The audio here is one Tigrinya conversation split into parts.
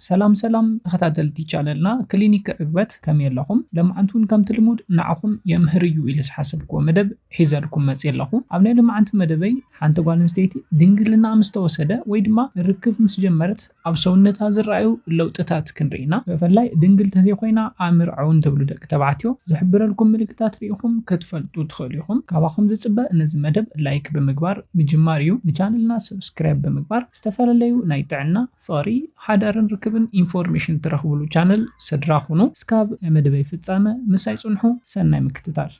ሰላም ሰላም ተኸታተልቲ ቻነልና ክሊኒክ ዕግበት ከመይ ኣለኹም? ለማዓንቲ እውን ከምቲ ልሙድ ንዓኹም የምህር እዩ ኢለ ዝሓሰብክዎ መደብ ሒዘልኩም መፂ ኣለኹ። ኣብ ናይ ለማዓንቲ መደበይ ሓንቲ ጓል ኣንስተይቲ ድንግልናኣ ምስ ተወሰደ ወይ ድማ ርክብ ምስ ጀመረት ኣብ ሰውነታ ዝረኣዩ ለውጥታት ክንርኢ ኢና። ብፍላይ ድንግል ተዘይኮይና ኣምርዓውን ትብሉ ደቂ ተባዕትዮ ዝሕብረልኩም ምልክታት ሪኢኹም ክትፈልጡ ትኽእሉ ኢኹም። ካባኹም ዝፅበ ነዚ መደብ ላይክ ብምግባር ምጅማር እዩ። ንቻነልና ሰብስክራይብ ብምግባር ዝተፈላለዩ ናይ ጥዕና፣ ፍቕሪ፣ ሓዳርን ርክብን ኢንፎርሜሽን ትረኽብሉ ቻነል ስድራ ኩኑ። እስካብ መደበይ ፍጻመ ምሳይ ጽንሑ። ሰናይ ምክትታል።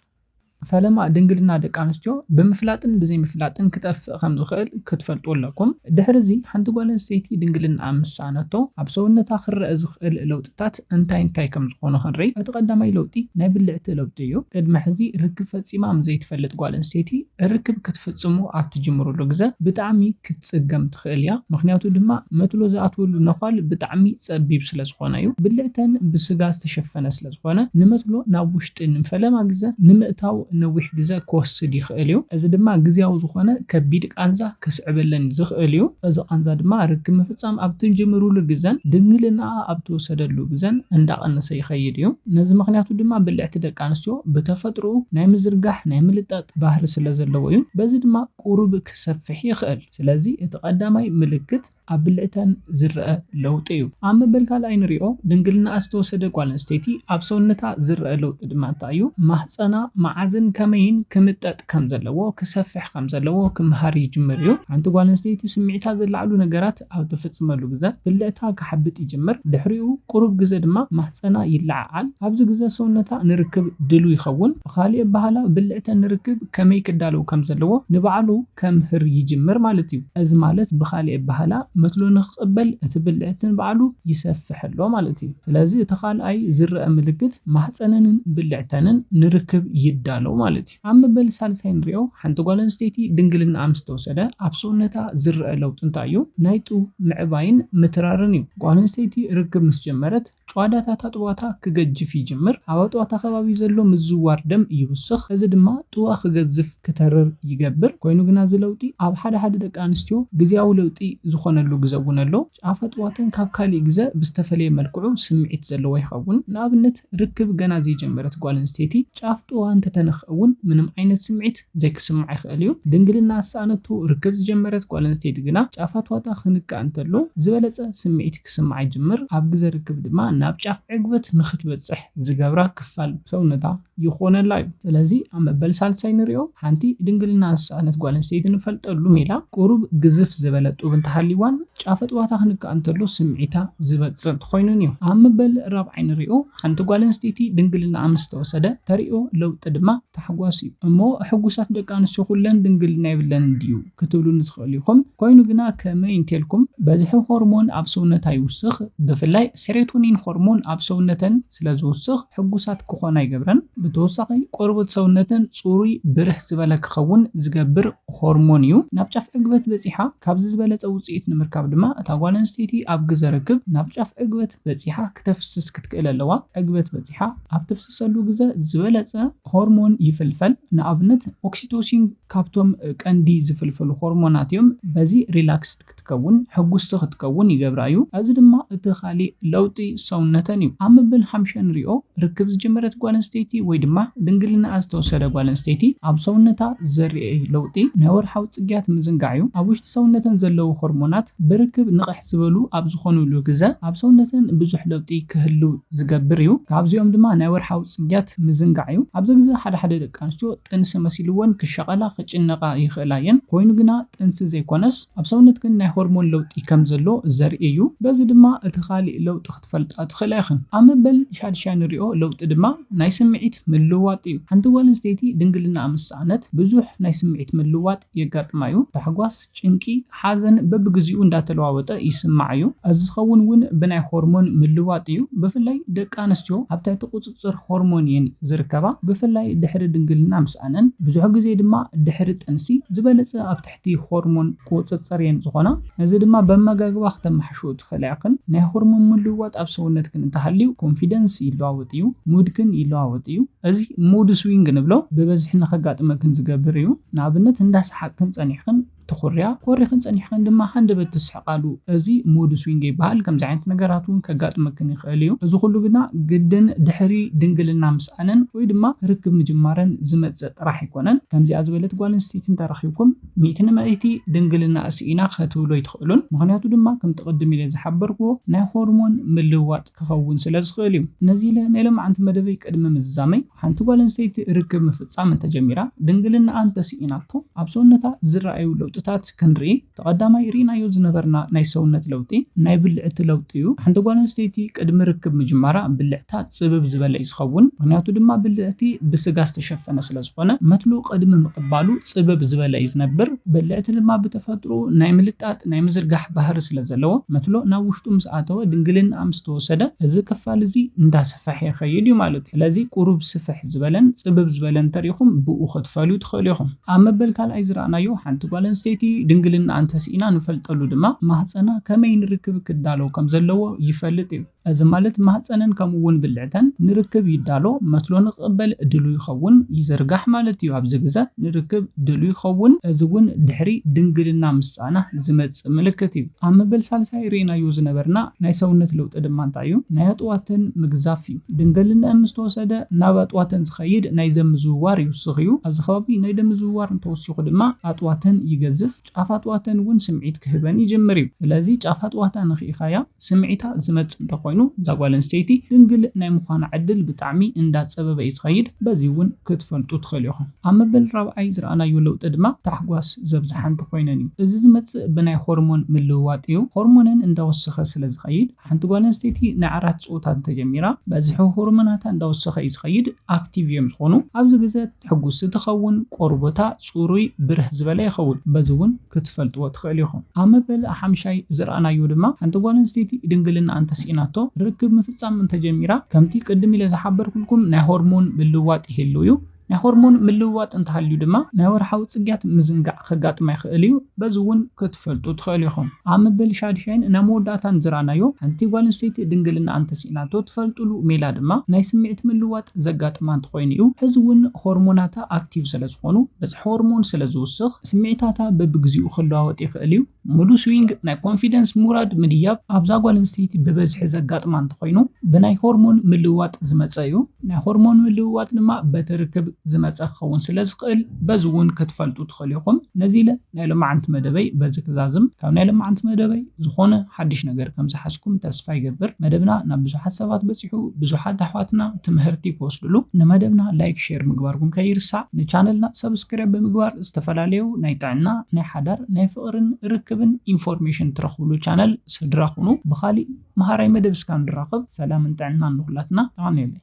ፈለማ ድንግልና ደቂ ኣንስትዮ ብምፍላጥን ብዘይምፍላጥን ክጠፍእ ከም ዝኽእል ክትፈልጡ ኣለኩም። ድሕሪ እዚ ሓንቲ ጓል ኣንስተይቲ ድንግልንኣ ምስ ሰኣነቶ ኣብ ሰውነታ ክረኣ ዝኽእል ለውጥታት፣ እንታይ እንታይ ከም ዝኾኑ ክንርኢ። እቲ ቀዳማይ ለውጢ ናይ ብልዕቲ ለውጢ እዩ። ቅድሚ ሕዚ ርክብ ፈጺማ ምስ ዘይትፈልጥ ጓል ኣንስተይቲ ርክብ ክትፍጽሙ ኣብ ትጅምሩሉ ግዘ ብጣዕሚ ክትጽገም ትኽእል እያ። ምኽንያቱ ድማ መትሎ ዝኣትወሉ ነዃል ብጣዕሚ ጸቢብ ስለዝኾነ እዩ። ብልዕተን ብስጋ ዝተሸፈነ ስለዝኾነ ንመትሎ ናብ ጢን ንፈለማ ግዘ ንምእታው ነዊሕ ግዘ ክወስድ ይኽእል እዩ፣ እዚ ድማ ግዝያዊ ዝኾነ ከቢድ ቃንዛ ከስዕበለን ዝኽእል እዩ። እዚ ቃንዛ ድማ ርክብ ምፍፃም ኣብ ትጅምርሉ ግዘን ድንግልናኣ ኣብ ትወሰደሉ ግዘን እንዳቐነሰ ይኸይድ እዩ። ነዚ ምኽንያቱ ድማ ብልዕቲ ደቂ ኣንስትዮ ብተፈጥርኡ ናይ ምዝርጋሕ፣ ናይ ምልጣጥ ባህሪ ስለዘለዎ እዩ። በዚ ድማ ቁሩብ ክሰፍሕ ይኽእል። ስለዚ እቲ ቀዳማይ ምልክት። ኣብ ብልዕተን ዝረኣ ለውጢ እዩ። ኣብ መበል ካልኣይ ንሪኦ ድንግልናኣ ዝተወሰደ ጓል ኣንስተይቲ ኣብ ሰውነታ ዝረኣ ለውጢ ድማ እንታይ እዩ? ማህጸና መዓዝን ከመይን ክምጠጥ ከም ዘለዎ፣ ክሰፍሕ ከም ዘለዎ ክምሃር ይጅምር እዩ። ሓንቲ ጓል ኣንስተይቲ ስምዒታ ዘለዓዕሉ ነገራት ኣብ ትፍጽመሉ ግዘ ብልዕታ ክሓብጥ ይጅምር። ድሕሪኡ ቁሩብ ግዘ ድማ ማህጸና ይለዓዓል። ኣብዚ ግዘ ሰውነታ ንርክብ ድሉው ይኸውን። ብኻሊእ ኣበሃህላ ብልዕተን ንርክብ ከመይ ክዳለው ከም ዘለዎ ንባዕሉ፣ ከምህር ይጅምር ማለት እዩ። እዚ ማለት ብኻልእ ኣበሃህላ መትሎ ንክቕበል እቲ ብልዕቲ ንባዕሉ ይሰፍሕ ኣሎ ማለት እዩ። ስለዚ እቲ ካልኣይ ዝረኣ ምልክት ማህጸነንን ብልዕተንን ንርክብ ይዳለው ማለት እዩ። ኣብ መበል ሳልሳይ ንሪኦ፣ ሓንቲ ጓል ኣንስተይቲ ድንግልናኣ ምስ ተወሰደ ኣብ ሰውነታ ዝረኣ ለውጢ እንታይ እዩ? ናይ ጡብ ምዕባይን ምትራርን እዩ። ጓል ኣንስተይቲ ርክብ ምስ ጀመረት፣ ጭዋዳታት ኣጥቦታ ክገጅፍ ይጅምር፣ ኣብ ኣጥቦታ ከባቢ ዘሎ ምዝዋር ደም ይውስኽ፣ እዚ ድማ ጥዋ ክገዝፍ፣ ክተርር፣ ይገብር። ኮይኑ ግና እዚ ለውጢ ኣብ ሓደ ሓደ ደቂ ኣንስትዮ ግዝያዊ ለውጢ ዝኾነሉ ግዘ እውን ኣሎ። ጫፍ ኣጥቦተን ካብ ካሊእ ግዘ ብዝተፈለየ መልክዑ ስምዒት ዘለዎ ይኸውን። ንኣብነት ርክብ ገና ዘይጀመረት ጓል ኣንስተይቲ ጫፍ ጥዋኣ እንተተነኽእ እውን ምንም ዓይነት ስምዒት። ዘይክስማዕ ይኽእል እዩ። ድንግልና ዝሰኣነቶ ርክብ ዝጀመረት ጓል ኣንስተይቲ ግና ጫፋት ዋጣ ክንካእ እንተሎ ዝበለጸ ስምዒት ክስምዓ ይጅምር፣ ኣብ ግዘ ርክብ ድማ ናብ ጫፍ ዕግበት ንኽትበጽሕ ዝገብራ ክፋል ሰውነታ ይኾነላ እዩ። ስለዚ ኣብ መበል ሳልሳይ ንሪኦ ሓንቲ ድንግልና ዝሰኣነት ጓል ኣንስተይቲ ንፈልጠሉ ሜላ ቁሩብ ግዝፍ ዝበለ ጡብ እንተሃልይዋን ጫፈጥ ዋታ ክንካእ እንተሎ ስምዒታ ዝበጽእ እንተኾይኑን እዩ። ኣብ መበል ራብዓይ ንሪኦ ሓንቲ ጓል ኣንስተይቲ ድንግልናኣ ምስ ተወሰደ ተርእዮ ለውጢ ድማ ታሕጓስ እዩ። እሞ ሕጉሳት ደቂ ኣንስትዮ ኩለን ድንግልና የብለንን ድዩ? ክትብሉኒ ትኽእሉ ኢኹም። ኮይኑ ግና ከመይ እንተልኩም በዝሒ ሆርሞን ኣብ ሰውነታ ይውስኽ፣ ብፍላይ ሴሮቶኒን ሆርሞን ኣብ ሰውነተን ስለ ዝውስኽ ሕጉሳት ክኾና ኣይገብረን። ብተወሳኺ ቆርበት ሰውነተን ጽሩይ ብርሕ ዝበለ ክኸውን ዝገብር ሆርሞን እዩ። ናብ ጫፍ ዕግበት በጺሓ። ካብዚ ዝበለጸ ውጽኢት ንምርካብ ድማ እታ ጓል ኣንስተይቲ ኣብ ግዘ ርክብ ናብ ጫፍ ዕግበት በጺሓ። ክተፍስስ ክትክእል ኣለዋ። ዕግበት በጺሓ ኣብ ተፍስሰሉ ግዘ ዝበለጸ ሆርሞን ይፍልፈል። ንኣብነት ኦክሲቶሲን ካብቶም ቀንዲ ዝፍልፈሉ ሆርሞናት እዮም። በዚ ሪላክስድ ክትከውን፣ ሕጉስቲ ክትከውን፣ ይገብራ እዩ። እዚ ድማ እቲ ካሊእ ለውጢ ሰውነተን እዩ። ኣብ መበል ሓምሸ ንሪኦ። ርክብ ዝጀመረት ጓል ኣንስተይቲ ወይ ድማ ድንግልናኣ ዝተወሰደ ጓል ኣንስተይቲ ኣብ ሰውነታ ዝርኤ ለውጢ ናይ ወርሓዊ ጽግያት ምዝንጋዕ እዩ። ኣብ ውሽጢ ሰውነተን ዘለዉ ሆርሞናት ብርክብ ንቕሕ። ዝበሉ ኣብ ዝኾኑሉ ግዘ ኣብ ሰውነተን ብዙሕ ለውጢ ክህሉ ዝገብር እዩ። ካብዚኦም ድማ ናይ ወርሓዊ ፅግያት ምዝንጋዕ እዩ። ኣብዚ ግዘ ሓደ ሓደ ደቂ ኣንስትዮ ጥንሲ መሲልወን ክሻቐላ፣ ክጭነቓ ይኽእላ እየን። ኮይኑ ግና ጥንሲ ዘይኮነስ ኣብ ሰውነትክን ናይ ሆርሞን ለውጢ ከምዘሎ ዘርኢ እዩ። በዚ ድማ እቲ ካሊእ ለውጢ ክትፈልጣ ትኽእላ ኢኽን። ኣብ መበል ሻድሻይ ንሪኦ ለውጢ ድማ ናይ ስምዒት ምልውዋጥ እዩ። ሓንቲ ጓል ኣንስተይቲ ድንግልናኣ ምስ ሰኣነት ብዙሕ ናይ ስምዒት ምልውዋጥ የጋጥማ እዩ። ታሕጓስ፣ ጭንቂ፣ ሓዘን በብግዚኡ እንዳተለዋወጠ ይስምዓ እዩ። እዚ ዝኸውን እውን ብናይ ሆርሞን ምልውዋጥ እዩ። ብፍላይ ደቂ ኣንስትዮ ኣብ ትሕቲ ቁፅፅር ሆርሞን እየን ዝርከባ። ብፍላይ ድሕሪ ድንግልና ምስኣነን፣ ብዙሕ ግዜ ድማ ድሕሪ ጥንሲ ዝበለፀ ኣብ ትሕቲ። እቲ ሆርሞን ክቁጽጽር እየን ዝኾና። ነዚ ድማ በመጋግባ ክተማሕሽኡ ትኽእላ ኢኽን። ናይ ሆርሞን ምልውዋጥ ኣብ ሰውነትክን እንተሃልዩ ኮንፊደንስ ይለዋወጥ እዩ፣ ሙድክን ይለዋወጥ እዩ። እዚ ሙድ ስዊንግ ንብሎ ብበዝሒ ንኸጋጥመክን ዝገብር እዩ። ንኣብነት እንዳ ሰሓቅክን ጸኒሕክን ትኹርያ፣ ኮሪኽን ጸኒሕክን ድማ ሃንደበት ትስሕቃሉ። እዚ ሙድ ስዊንግ ይበሃል። ከምዚ ዓይነት ነገራት እውን ከጋጥመክን ይኽእል እዩ። እዚ ኩሉ ግና ግድን ድሕሪ ድንግልና ምስኣንን ወይ ድማ ርክብ ምጅማረን ዝመጽእ ጥራሕ ኣይኮነን ከምዚኣ ዝበለት ጓል ኣንስተይቲ እንተረኺብኩም ሚእቲ ንመእቲ ድንግልናኣ ስኢና ከትብሉ ኣይትኽእሉን ምኽንያቱ ድማ ከምቲ ቅድም ኢለ ዝሓበርክዎ ናይ ሆርሞን ምልውዋጥ ክኸውን ስለዝኽእል እዩ ነዚ ኢለ ናይ ሎምዓንቲ መደበይ ቅድሚ ምዝዛመይ ሓንቲ ጓል ኣንስተይቲ ርክብ ምፍጻም እንተጀሚራ ድንግልናኣ እንተስኢናቶ ኣብ ሰውነታ ዝረኣዩ ለውጥታት ክንርኢ እቲ ቀዳማይ ርኢናዮ ዝነበርና ናይ ሰውነት ለውጢ ናይ ብልዕቲ ለውጢ'ዩ። ሓንቲ ጓል ኣንስተይቲ ቅድሚ ርክብ ምጅማራ ብልዕታ ጽብብ ዝበለ'ዩ ዝኸውን፣ ምኽንያቱ ድማ ብልዕቲ ብስጋ ዝተሸፈነ ስለ ዝኾነ መትሉ ቅድሚ ምቕባሉ ጽብብ ዝበለ'ዩ ዝነብር። ብልዕቲ ድማ ብተፈጥርኡ ናይ ምልጣጥ፣ ናይ ምዝርጋሕ፣ ባህሪ ስለ ዘለዎ መትሎ ናብ ውሽጡ ምስ ኣተወ ድንግልንኣ ምስ ተወሰደ እዚ ክፋል እዚ እንዳሰፈሐ ይኸይድ'ዩ ማለት'ዩ። ስለዚ ቁሩብ ስፍሕ ዝበለን ጽብብ ዝበለን እንተሪኢኹም ብኡ ክትፈልዩ ትኽእሉ ኢኹም። ኣብ መበል ካልኣይ ዝረኣናዮ ሓንቲ ጓል ኣንስተይቲ ድንግልናኣ እንተስኢና ንፈልጠሉ ድማ ማህጸና ከመይ ንርክብ ክዳሎ ከም ዘለዎ ይፈልጥ እዩ። እዚ ማለት ማህጸነን ከምኡ'ውን ብልዕተን ንርክብ ይዳሎ፣ መትሎ ንኽቕበል ድሉው ይኸውን፣ ይዝርጋሕ፣ ማለት እዩ። ኣብዚ ግዘ ንርክብ ድሉው ይኸውን፣ እዚ እውን ድሕሪ ድንግልና ምስኣና ዝመጽእ ምልክት እዩ። ኣብ መበል ሳልሳይ ርኢናዮ ዝነበርና ናይ ሰውነት ለውጢ ድማ እንታይ እዩ? ናይ ኣጥዋተን ምግዛፍ እዩ። ድንገልነኣን ምስ ተወሰደ ናብ ኣጥዋተን ዝኸይድ ናይ ዘም ምዝውዋር ይውስኽ እዩ። ኣብዚ ከባቢ ናይ ደም ምዝውዋር እንተወሲኹ ድማ ኣጥዋተን ይገዝፍ፣ ጫፍ ኣጥዋተን እውን ስምዒት ክህበን ይጅምር እዩ። ስለዚ ጫፍ ኣጥዋታ ነኺእኻያ ስምዒታ ዝመጽእ እንተኾይኑ እዛ ጓል ኣንስተይቲ ድንግል ናይ ምዃና ዕድል ብጣዕሚ እንዳጸበበ እዩ ዝኸይድ። በዚ እውን ክትፈልጡ ትኽእሉ ኢኹም። ኣብ መበል ራብዓይ ዝረኣናዮ ለውጢ ድማ ታሕጓስ ዘብዝሓንተ ኮይነን እዩ። እዚ ዝመጽእ ብናይ ሆርሞን ምልውዋጥ እዩ። ሆርሞነን እንዳወሰኸ ስለ ዝኸይድ፣ ሓንቲ ጓል ኣንስተይቲ ናይ ዓራት ጾታ እንተጀሚራ፣ በዝሒ ሆርሞናታ እንዳወሰኸ እዩ ዝኸይድ፣ ኣክቲቭ እዮም ዝኾኑ። ኣብዚ ግዘ ሕጉስቲ ትኸውን፣ ቆርቦታ ጽሩይ ብርህ ዝበለ ይኸውን። በዚ እውን ክትፈልጥዎ ትኽእሉ ኢኹም። ኣብ መበል ሓምሻይ ዝረኣናዮ ድማ ሓንቲ ጓል ኣንስተይቲ ድንግልናኣ እንተሲኢናቶ ርክብ ምፍጻም እንተጀሚራ፣ ከምቲ ቅድም ኢለ ዝሓበርኩልኩም ናይ ሆርሞን ምልውዋጥ ይህሉ እዩ። ናይ ሆርሞን ምልውዋጥ እንተሃልዩ ድማ ናይ ወርሓዊ ጽግያት ምዝንጋዕ ከጋጥማ ይኽእል እዩ፣ በዚ እውን ክትፈልጡ ትኽእሉ ኢኹም። ኣብ መበል ሻድሻይን ናብ መወዳእታን ዝረኣናዮ፣ ሓንቲ ጓል ኣንስተይቲ ድንግልናኣ እንተስኢናቶ ትፈልጥሉ ሜላ ድማ ናይ ስምዒት ምልውዋጥ ዘጋጥማ እንተኾይኑ እዩ። ሕዚ እውን ሆርሞናታ ኣክቲቭ ስለዝኾኑ፣ በዝሒ ሆርሞን ስለዝውስኽ ስምዒታታ በብግዚኡ ክለዋወጥ ይኽእል እዩ። ሙዱ ስዊንግ ናይ ኮንፊደንስ ምውራድ ምድያብ ኣብዛ ጓል ኣንስተይቲ ብበዝሒ ዘጋጥማ እንተኾይኑ ብናይ ሆርሞን ምልውዋጥ ዝመፀ እዩ። ናይ ሆርሞን ምልውዋጥ ድማ በቲ ርክብ ዝመፀ ክኸውን ስለዝኽእል በዚ እውን ክትፈልጡ ትኽእሉ ኢኹም። ነዚ ኢለ ናይ ሎማዓንቲ መደበይ በዚ ክዛዝም። ካብ ናይ ሎማዓንቲ መደበይ ዝኾነ ሓዱሽ ነገር ከምዝሓዝኩም ተስፋ ይገብር። መደብና ናብ ብዙሓት ሰባት በፂሑ። በጺሑ ብዙሓት ኣሕዋትና ትምሀርቲ ክወስድሉ ንመደብና ላይክ ሼር ምግባርኩም ከይርሳዕ ንቻነልና ሰብስክረብ ብምግባር ዝተፈላለዩ ናይ ጥዕና ናይ ሓዳር ናይ ፍቅርን ርክብን ኢንፎርሜሽን ትረኽብሉ ቻነል ስድራ ኩኑ ብኻሊእ መሃራይ መደብ እስካ ንራኸብ ሰላምን ጥዕናን ንኹላትና የቀንየለይ።